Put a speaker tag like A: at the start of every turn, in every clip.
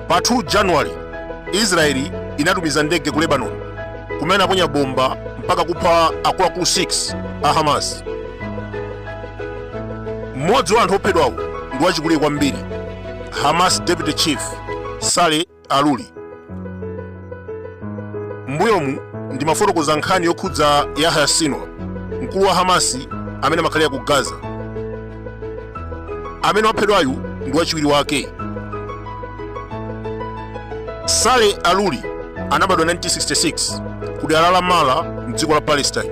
A: pa 2 january israeli inatumiza ndege ku lebanon kumene anaponya bomba mpaka kupha akuluakulu 6 a hamas mmodzi wa anthu ophedwawo ndi wachikulire kwambiri Hamas Deputy Chief Saleh Arouri. Mbuyomu ndimafotokoza nkhani yokhudza Yahya Sinwar, mkulu wa Hamasi amene amakhalira ku Gaza. Amene waphedwayu ndi wachiwiri wake. Saleh Arouri anabadwa 1966 ku dera la Ramallah mdziko la Palestine.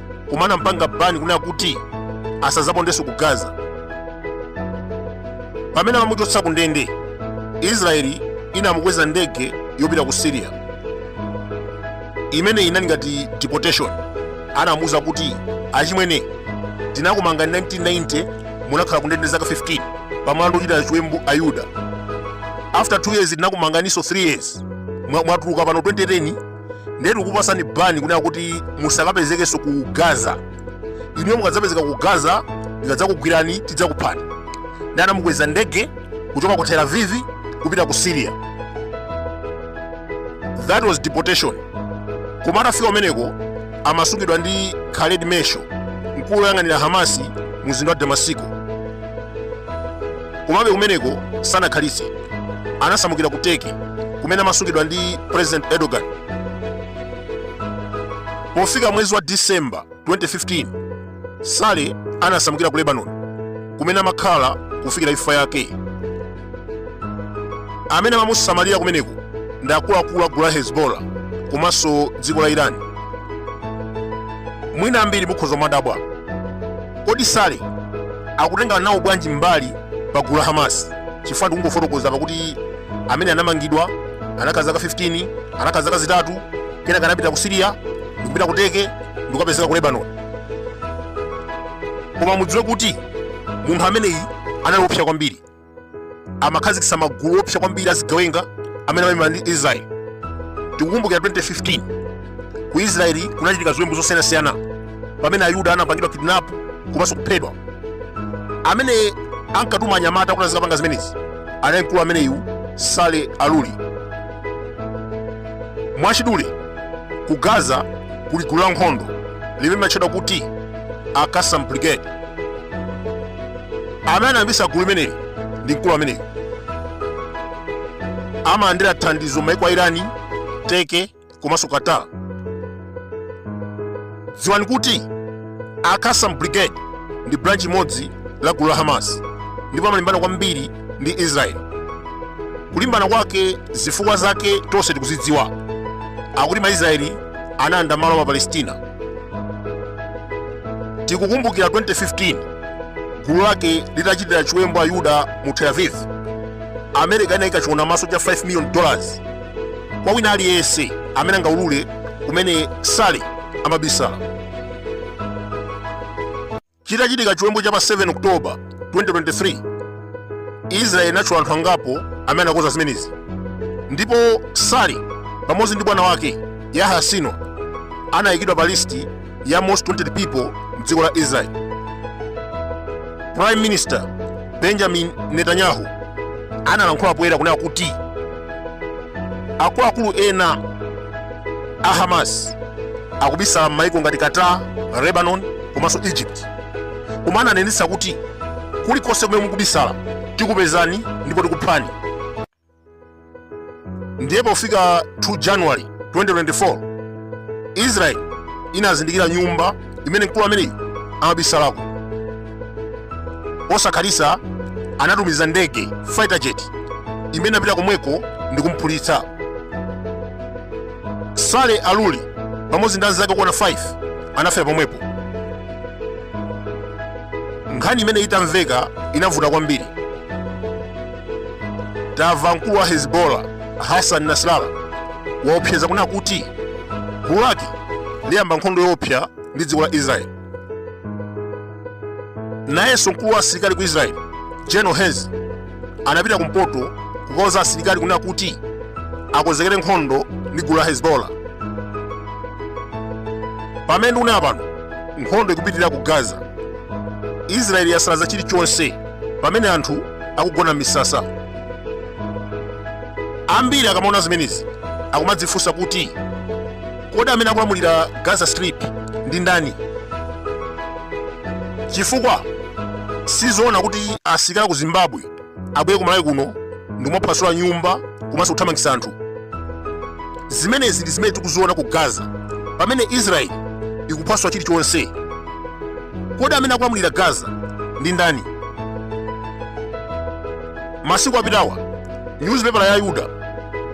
A: koma anampanga bani kunena kuti asazapondenso ku gaza pamene amamuchotsa ku ndende israeli inamukweza ndege yopita ku syria imene inali ngati deportation anamuwuza kuti achimwene tinakumanga 1990 munakhala kundende zaka 15 pa mlandu wochita chiwembu ayuda after 2 years tinakumanganiso 3 years mwatuluka pano 2010 ndiye tikupatsani bani kunena kuti musakapezekenso ku gaza inuyo mukadzapezeka ku gaza tikadzakugwirani tidzakuphani ndiye anamukweza ndege kuchoka ku tel aviv kupita ku syria that was deportation koma atafika kumeneko amasungidwa ndi khaled meshaal mkulu woyang'anira hamasi mu mzinda wa damasiko Komabe kumeneko sanakhalitse, anasamukira ku Turkey kumene amasungidwa ndi President Erdogan. Pofika mwezi wa December 2015, Saleh anasamukira ku Lebanon kumene amakhala kufikira imfa yake. Amene amamusamalira kumeneko ndi akuluakulu a gulu la Hezbollah komanso dziko la Iran. Mwina ambiri mukhoza kumadabwa Kodi Saleh akutenga nawo bwanji mbali pa gulu la Hamas? Chifukwa ndikungofotokoza apa kuti ameneyi anamangidwa anakhala zaka 15, anakhala zaka zitatu, kenaka anapita ku Syria, ndikupita ku Turkey, ndikukapezeka ku Lebanon. Koma mudziwe kuti munthu ameneyi anali woopsa kwambiri. amakhazikitsa magulu oopsa kwambiri azigawenga amene amalimbana ndi israeli tikukumbukira 2015 ku israeli kunachitika ziwembu zosiyanasiyana pamene ayuda anapangidwa kidnap komanso kuphedwa amene ankatuma anyamata kuti azikapanga zimenezi anali mkulu ameneyu saleh arouri mwachidule ku gaza kuli gulu la nkhondo limene limatchedwa kuti al qassam brigade amene anayambisa gulu limeneli ndi mkulu ameneyu amalandira thandizo m'maiko a irani turkey komanso qatar dziwani kuti a qassam brigade ndi branch imodzi la gulu la hamas ndipo amalimbana kwambiri ndi israel kulimbana kwake zifukwa zake tonse tikuzidziwa akuti maisraeli analanda malo a mapalestina tikukumbukira 2015 gulu lake litachitira chiwembu ayuda mu tel aviv america inayika chiwona maso cha 5 million dollars kwa wina aliyense amene angaulule kumene saleh amabisala chitachitika chiwembu cha pa 7 oktoba 2023 israeli inatchula anthu angapo amene anakonza zimenezi ndipo saleh pamodzi ndi bwana wake yahya sinwar anayikidwa pa listi ya most wanted people mdziko la israel prime minister benjamin netanyahu analankhula poyera kunena kuti akuluakulu ena a hamas akubisala m'maiko ngati qatar lebanon komanso egypt koma ananenetsa kuti kulikonse kumene mukubisala tikupezani ndipo tikuphani ndiye pofika 2 january 2024 israeli inazindikira nyumba imene mkulu ameneyu amabisalako posakhalitsa anatumiza ndege fighter jet imene inapita komweko ndi kumphulitsa saleh arouri pamodzi ndi anzake okwana 5 anafera pomwepo nkhani imeneyi itamveka inavuta kwambiri tamva mkulu wa hezbollah hassan nasrallah waopseza kunena kuti gulu lake liyamba nkhondo yoopsa ndi dziko la israeli nayenso mkulu wa asilikali ku israeli general herzi anapita kumpoto kukauza asilikali kunena kuti akonzekere nkhondo ndi gulu la hezbollah pamene ndikunena pano nkhondo ikupitirira ku gaza israeli yasalaza chilichonse pamene anthu akugona m'misasa ambiri akamaona zimenezi akumadzifunsa kuti kodi amene akulamulira gaza strip ndi ndani chifukwa sizoona kuti asilikali aku zimbabwe abwere ku malawi kuno ndi kumaphwasula nyumba komanso kuthamangisa anthu zimenezi ndi zimene tikuziona ku gaza pamene israeli ikuphwasula chilichonse Kodi amene akulamulira Gaza ndi ndani? Masiku apitawa nyuzipepala ya Ayuda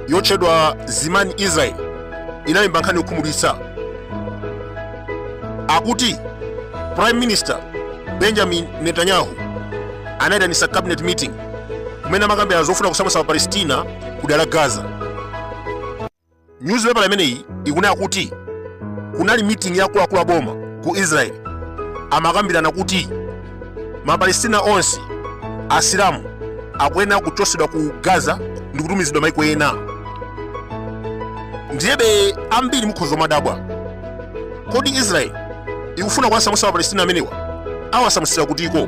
A: yotchedwa Zimani Israel inalemba nkhani yokhumudwitsa akuti Prime Minister Benjamin Netanyahu anayitanitsa cabinet meeting kumene amakambirana zofuna kusamutsa Mapalestina ku dera la Gaza. nyuzipepala imeneyi ikunena kuti kunali meeting ya akuluakulu a boma ku israeli amakambirana kuti mapalestina onse asilamu akuyenera kuchotsedwa ku gaza ndi kutumizidwa maiko ena ndiyebe ambiri mukhoza kumadabwa kodi israeli ikufuna kuwasamutsa mapalestina amenewa awasamutsira kutiko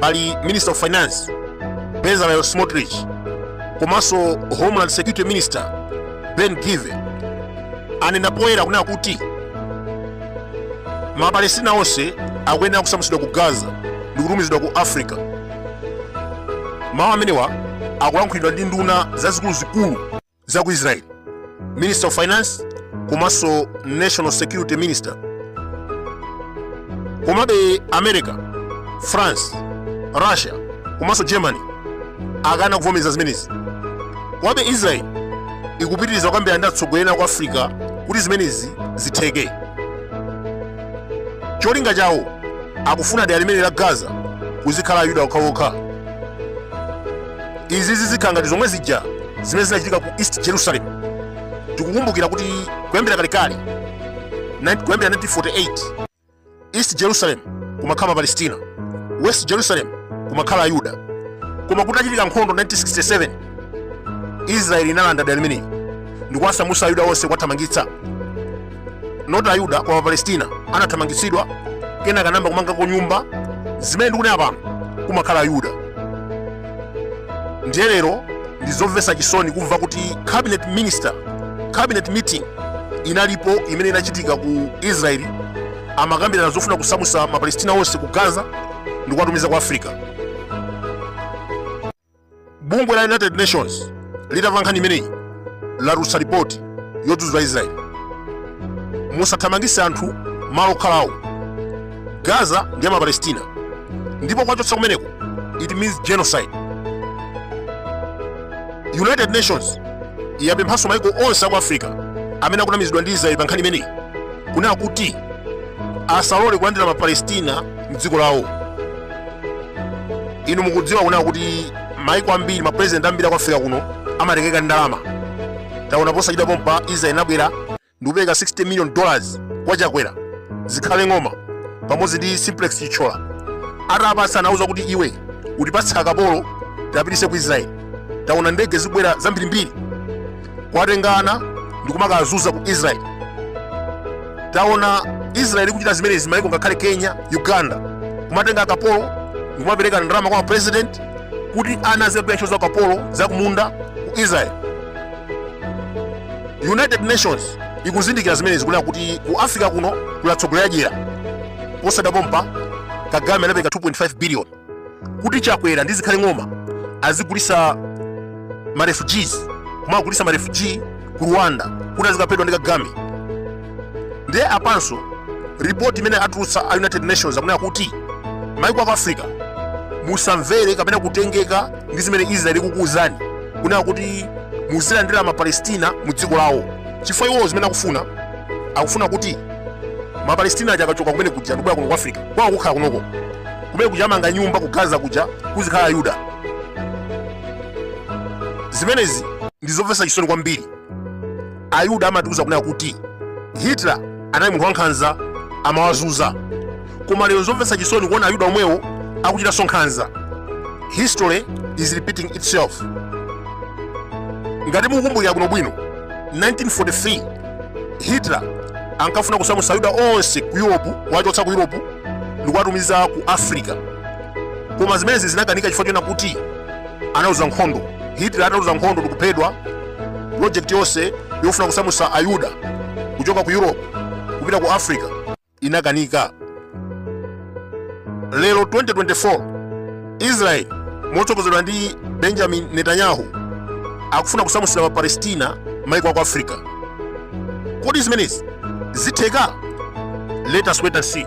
A: pali minister of finance bezalel smotrich komanso homeland security minister ben gvir anena poyera kunena kuti mapalestina onse akuyenera kusamutsidwa ku gaza ndi kutumizidwa ku africa mawu amenewa akulankhulidwa ndi nduna zazikuluzikulu za ku israel minister of finance komanso national security minister komabe america france russia komanso germany akana kuvomereza zimenezi komabe israel ikupitiriza kukambirana ndi atsogoleri aku africa kuti zimenezi zitheke cholinga chawo akufuna dera limeneli la gaza kuzikhala ayuda okhaokha izi zizikhala ngati zomwe zija zimene zinachitika ku east jerusalem tikukumbukira kuti kuyambira kalekale kuyambira 1948 east jerusalem kumakhala mapalestina west jerusalem kumakhala ayuda koma kutachitika nkhondo 1967 israeli inalanda dera limeneli ndikuwasamutsa ayuda onse kuwathamangitsa not ayuda koma mapalestina anathamangitsidwa kenaka anayamba kumangako nyumba zimene ndikunena pano kumakhala ayuda ndiye lero ndi zomvetsa chisoni kumva kuti cabinet minister cabinet meeting inalipo imene inachitika ku israeli amakambirana zofuna kusamutsa mapalestina onse ku gaza ndikuwatumiza ku africa bungwe la united nations litamva nkhani imeneyi latulutsa ripoti yodzudzula israeli musathamangitse anthu malo okhalawo gaza ndi ya mapalestina ndipo kuwachotsa kumeneko it means genocide united nations yapemphanso maiko onse aku africa amene akunamizidwa ndi israeli pa nkhani imeneyi kunena kuti asalole kulandira mapalestina mdziko lawo inu mukudziwa kunena kuti maiko ambiri mapurezidenti ambiri aku africa kuno amatengeka ndi ndalama taona posachedwa pompa israel inabwera ndikupereka 60 million dollars kwa chakwera zikhale ng'oma pamodzi ndi simplex chithyola atawapatsa anawauza kuti iwe utipatse akapolo tiwapititse ku israel taona ndege zikubwera zambirimbiri kuwatenga ana ndi kumakawazuza ku israeli taona israeli ikuchita zimenezi maiko ngakhale kenya uganda kumatenga akapolo ndi kumapereka ndalama kwa mapresident kuti ana azikagwira ntchito za ukapolo za kumunda ku israeli united nations ikuzindikira zimenezi kunena kuti ku africa kuno kuli atsogoleri adyera posachedwa pompa kagame anapereka 2.5 billion kuti chakwera ndi zikhale ng'oma azigulisa ma refugees kumawagulitsa ma refugee ku rwanda kuti azikaphedwa ndi kagame ndiye apanso report imene atulutsa a united nations akunena kuti maiko aku africa musamvere kapena kutengeka ndi zimene israel ikukuwuzani kunena kuti muzilandira mapalestina mu dziko lawo chifukwa iwowo zimene akufuna akufuna kuti mapalestina aja akachoka kumene kuja ndikubwera kuno ku africa kwawo kukhala kunoko kumene kuja amanga nyumba ku gaza kuja kuzikhala ayuda zimenezi ndi zomvetsa chisoni kwambiri ayuda amatiuza kunena kuti hitler anali munthu wankhanza amawazuza koma lero zomvetsa chisoni kuona ayuda omwewo akuchitanso nkhanza history is repeating itself ngati mukukumbukira bwinobwino 1943 hitler ankafuna kusamutsa ayuda onse ku europe kuwachotsa ku europe ndikuwatumiza ku africa koma zimenezi zinakanika chifukwa chonena kuti analuza nkhondo hitler ataluza nkhondo ndikuphedwa project yonse yofuna kusamusa ayuda kuchoka ku europe kupita ku africa inakanika lero 2024 israeli motsogozedwa ndi benjamin netanyahu akufuna kusamutsira mapalestina maiko aku africa kodi zimenezi zitheka let us wait and see